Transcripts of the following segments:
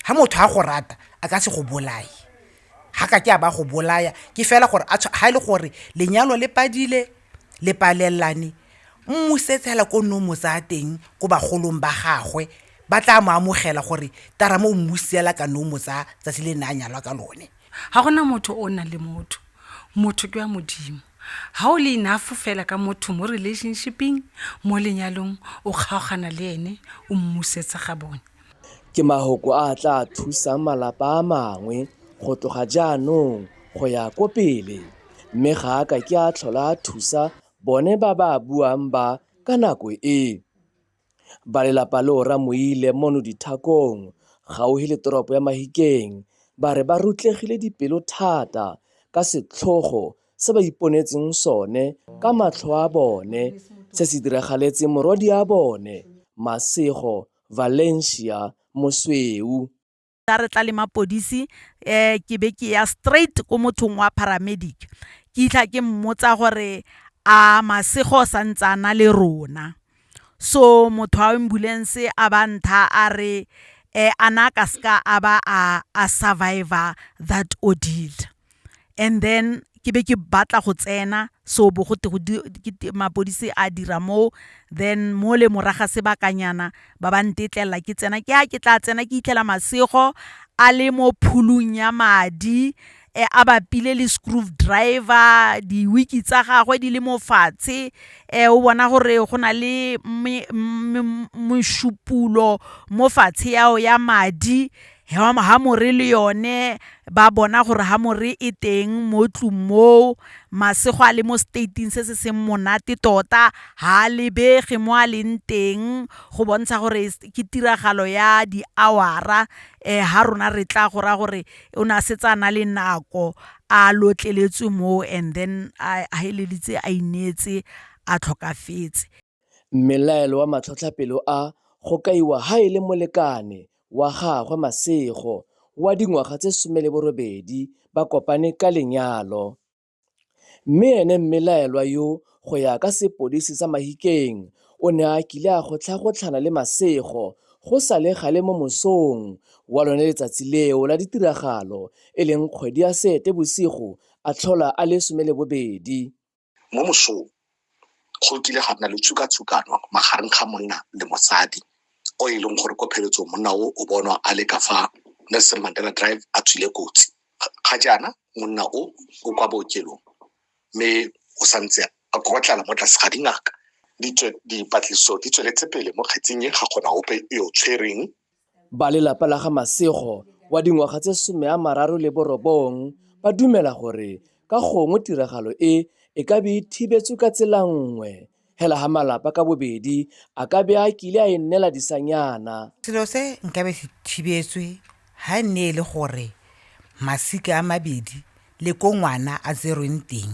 ha motho a go rata a ka se go bolaye ha ka ke a ba go bolaya ke fela gore ha e le gore lenyalo le padile le palelelane mmusetshela ko nne o mo tsaya teng ko bagolong ba gagwe ba tla mo amogela gore tara mo mmusela ka nne o mo tsaya tsatsi le ne a nyalwa ka lone Ga go na motho o o nang le motho. Motho ke wa Modimo. Ga o le enough fela ka motho mo relationship-ing, mo lenyalong, o kgaogana le ene, o mmusetsa ga bone. Ke mahoko a a tla thusang malapa a mangwe go tloga jaanong go ya ko pele, mme ga a ka ke a tlhola a thusa bone ba ba a buang ba ka nako e. Ba lelapa leo Ramoile Mono Dithakong, gaufi le toropo ya Mahikeng, ba re ba rutlegile dipelo thata ka setlhogo se ba iponetseng sone ka matlho a bone se se diragaletseng morwadia bone Masego Valencia Mosweu. tla re tla le mapodisi um ke be ke ya straight ko mothong wa paramedic ke itlha ke mmotsa gore a masego sa ntse a na le rona so motho wa ambulance a ba ntha a re um a na ka seka a ba a survivor that ordeal. and then ke be ke batla go tsena so bo go twe mapodisi a dira moo then mo le morago ga sebakanyana ba ba ntetlelela ke tsena ke a ke tla tsena ke fitlhela masego a le mo pholung ya madi a bapile le screw driver di-wig-ke tsa gagwe di le mo fatshe o bona gore go na le mešupologo mo fatshe ao ya madi hamore le yone ba bona gore hamore e teng mo tlung moo masego a le mo stating se se seng monate tota ha a lebege mo a leng teng go bontsha gore ke tiragalo ya di-hour-a um ha rona re tla go raya gore o ne a setse a na le nako a lotleletswe moo and then a feleleditse a ineetse a tlhokafetse. Mmelaelo wa matlhotlhapelo a go kaiwa ha e le molekane wa gagwe Masego wa dingwaga tse 18 ba kopane ka lenyalo. Mme ene mmelaelwa yo go ya ka sepodisi sa Mahikeng o ne a kile a gotlhagotlhana le Masego go sa le gale mo mosong wa lone letsatsi leo la ditiragalo e leng kgwedi ya Seetebosigo a tlhola a le 12. Mo mosong go kile ga nna le tshukatshukano magareng ga monna le mosadi o e leng gore ko pheletsong monna o o bonwa a le ka fa Nelson Mandela Drive a tswile kotsi. Ga jaana monna o o kwa bookelong mme o santse a kokotlala mo tlase ga dingaka. Dipatlisiso di tsweletse pele mo kgetseng e, ga gona ope yo tshwereng. Ba lelapa la ga Masego wa dingwaga tse some a mararo le borobong ba dumela gore ka gongwe tiragalo e e ka be e thibetswe ka tsela nngwe hela ha malapa ka bobedi a ka be a kile a e nnela disanyana Selo se nkabe se thibetswe ha e ne e le gore masika a mabedi le ko ngwana a tserweng teng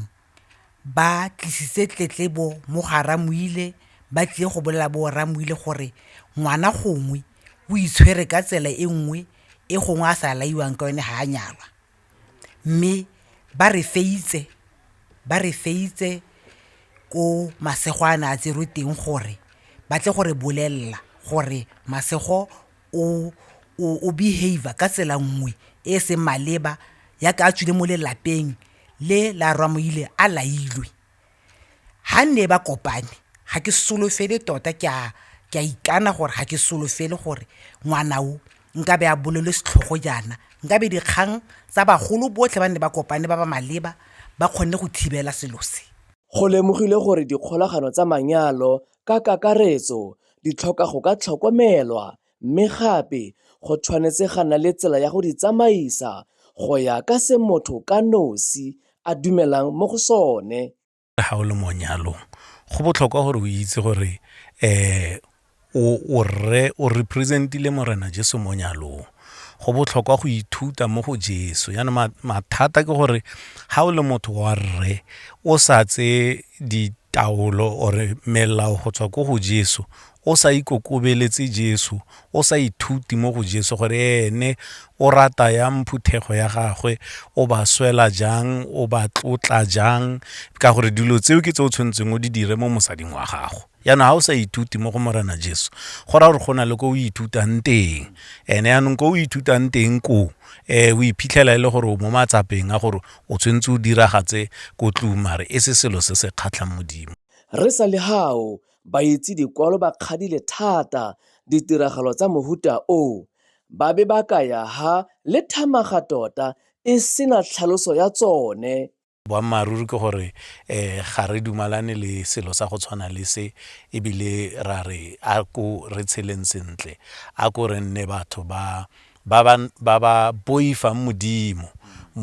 ba tlisitse tletlebo mo ga Ramoile ba tlile go bolela bo Ramoile gore ngwana gongwe o itshwere ka tsela e nngwe e gongwe a sa laiwang ka yone ga a nyalwa mme ba re feitse ba re feitse ko masego a ne a tserwe teng gore ba tle gore bolelela gore masego o behavior ka tsela nngwe e e seng maleba yaka a tswile mo lelapeng le la Ramaile a lailwe ha ne ba kopane ga ke solofele tota ke a ke a ikana gore ga ke solofele gore ngwana o nka be a bolele setlhogo jaana nka be dikgang tsa bagolo botlhe ba ne ba kopane ba ba maleba ba kgonne go thibela selo se. Go lemogilwe gore dikgolagano tsa manyalo ka kakaretso di tlhoka go ka tlhokomelwa mme gape go tshwanetse ga na le tsela ya go di tsamaisa go ya ka se motho ka nosi a dumelang mo go sone. Ga o le mo nyalong go botlhokwa gore o itse gore um o representile Morena Jesu mo nyalong. go botlhokwa go ithuta mo go Jesu. Yana mathata ke gore ha o le motho wa rre o sa tse ditaolo ore melao go tswa ko go Jesu o sa ikokobeletse Jesu o sa ithuti mo go Jesu gore ene o rata ya mphuthego ya gagwe o ba swela jang o ba tlotla jang ka gore dilo tseo ke tse o tshwanetseng o di dire mo mosading wa gago jaanong ga o sa ithute mo go morena jesu go raya gore go na le ko o ithutang teng ene jaanong ko o ithutang teng koo um o iphitlhela e le gore o mo matsapeng a gore o tshwanetse o diragatse ko tlong mare e se selo se se kgatlhang modimo re sa le gao baitse dikwalo ba kgadile thata ditiragalo tsa mohuta o ba be ba ka ya ha le thamaga tota e sena tlhaloso ya tsone Boammaaruri ke gore ga re dumalane le selo sa go tshwana le se ebile ra re a ko re tsheleng sentle, a ko re nne batho ba ba boifang Modimo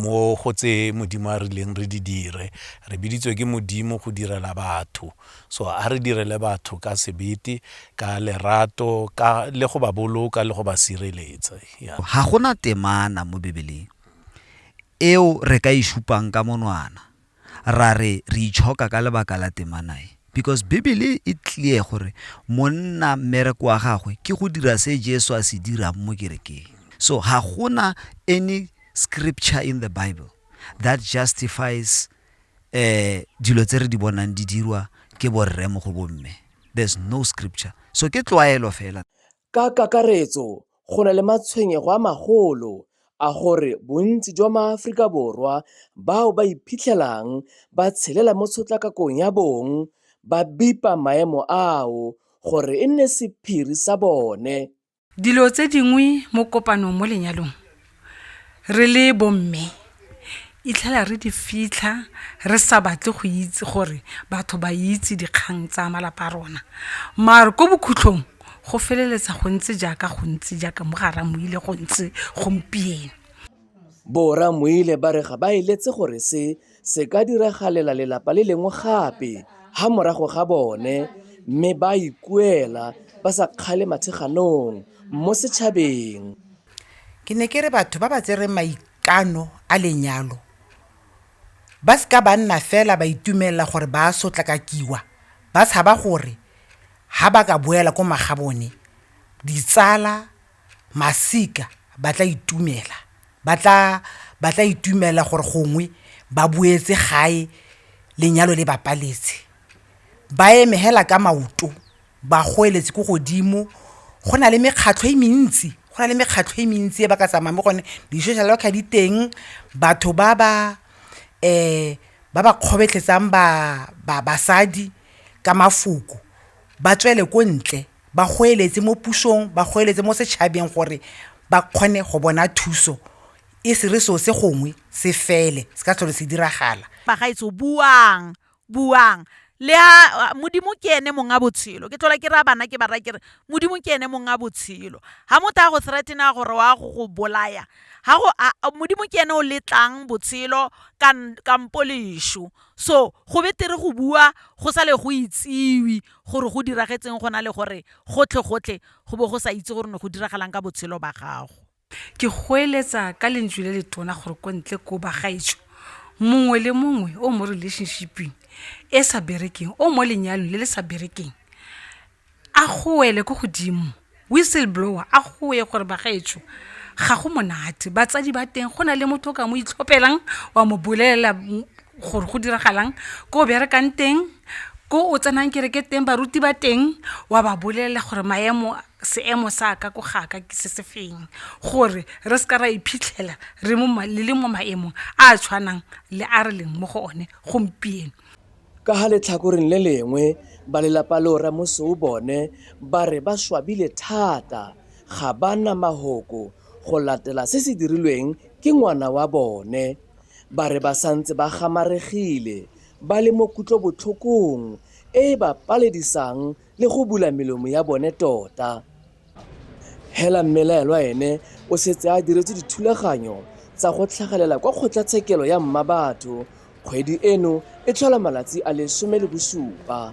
mo go tse Modimo a rileng re di dire. Re biditswe ke Modimo go direla batho, so a re direle batho ka sebete, ka lerato, le go ba boloka le go ba sireletsa. Ga go na temana mo Bibeleng. eo re ka e supang ka monwana ra re re itshoka ka lebaka la temana e because bibele e clear gore monna mmereko wa gagwe ke go dira se jesu a se dirang mo kerekeng so ga gona any scripture in the bible that justifies um dilo tse re di bonang di dirwa ke borre mo go bomme there's no scripture so ke tlwaelo fela Ka kakaretso, go na le matshwenyego a magolo a gore bontsi jwa maAforika Borwa bao ba iphitlhelang ba tshelela mo tshotlakakong ya bong ba bipa maemo ao gore e nne sephiri sa bone. Dilo tse dingwe mo kopanong mo lenyalong. re le bomme itlhela re di fitlha re sa batle go itse gore batho ba itse dikgang tsa malapa a rona mare ko bokhutlhong go feleletsa go ntse jaaka go ntse jaaka mo gara mo ile go ntse gompieno Bo Ramoile ba re ga ba eletse gore se Se ka diragalela lelapa le lengwe gape ha morago ga bone mme ba ikuela ba sa kgale matheganong mo setšhabeng. Ke ne ke re batho ba ba tsereng maikano a lenyalo ba se ka ba nna fela ba itumelela gore ba a sotlakakiwa ba tshaba gore ha ba ka boela ko magabone ditsala, masika ba tla itumela, ba tla itumela gore gongwe ba boetse gae lenyalo le bapaletse. Ba eme fela ka maoto, ba goeletse ko godimo. Go na le mekgatlho e mentsi, go na le mekgatlho e mentsi e ba ka tsamayang mo go yone, di-social worker di teng, batho ba ba kgobetlhetsang basadi ka mafoko ba tswele ko ntle. ba goeletse mo pusong, ba goeletse mo setšhabeng gore ba kgone go bona thuso, e se re seo se gongwe se fele, se ka tlhole se diragala. Bagaetsho, buang, buang. Le a, Modimo ke ene mong a botshelo. Ke tlhola ke raya bana, ke ba raya ke re, Modimo ke ene mong a botshelo. Ha motho a go threaten-a gore wa go go bolaya, ha go, a, Modimo ke ene o letlang botshelo kampo leso. So, go betere go bua go sa le go itsiwe. gore go diragetseng go na le gore gotlhe-gotlhe go bo go sa itse gore ne go diragalang ka botshelo ba gago. Ke goeletsa ka lentswe le le tona gore ko ntle ko bagaetsho, mongwe le mongwe o mo relationshiping e sa berekeng, o mo lenyalong le le sa berekeng, a goele ko godimo. Whistle blower a goe gore bagaetsho ga go monate batsadi ba teng go na le motho o ka mo itlhopelang wa mo bolelela gore go diragalang ko o berekang teng ko o tsenang kereke teng baruti ba teng wa ba bolelela gore maemo seemo sa ka ko ga ka ke se se feng gore re se ka ra iphitlhela re le mo maemong a a tshwanang le a re leng mo go one gompieno. Ka ga letlhakoreng le lengwe, balelapa leo Rre Mosou bone ba re ba swabile thata ga ba na mahoko go latela se se dirilweng ke ngwana wa bone. Ba re ba santse ba gamaregile, ba le mo kutlobotlhokong e e ba paledisang le go bula melomo ya bone tota. Hela mmelaelwa ene o setse a diretse dithulaganyo tsa go tlhagelela kwa kgotlatshekelo ya Mmabatho. Kgwedi eno e tlhola malatsi a le some le bosupa.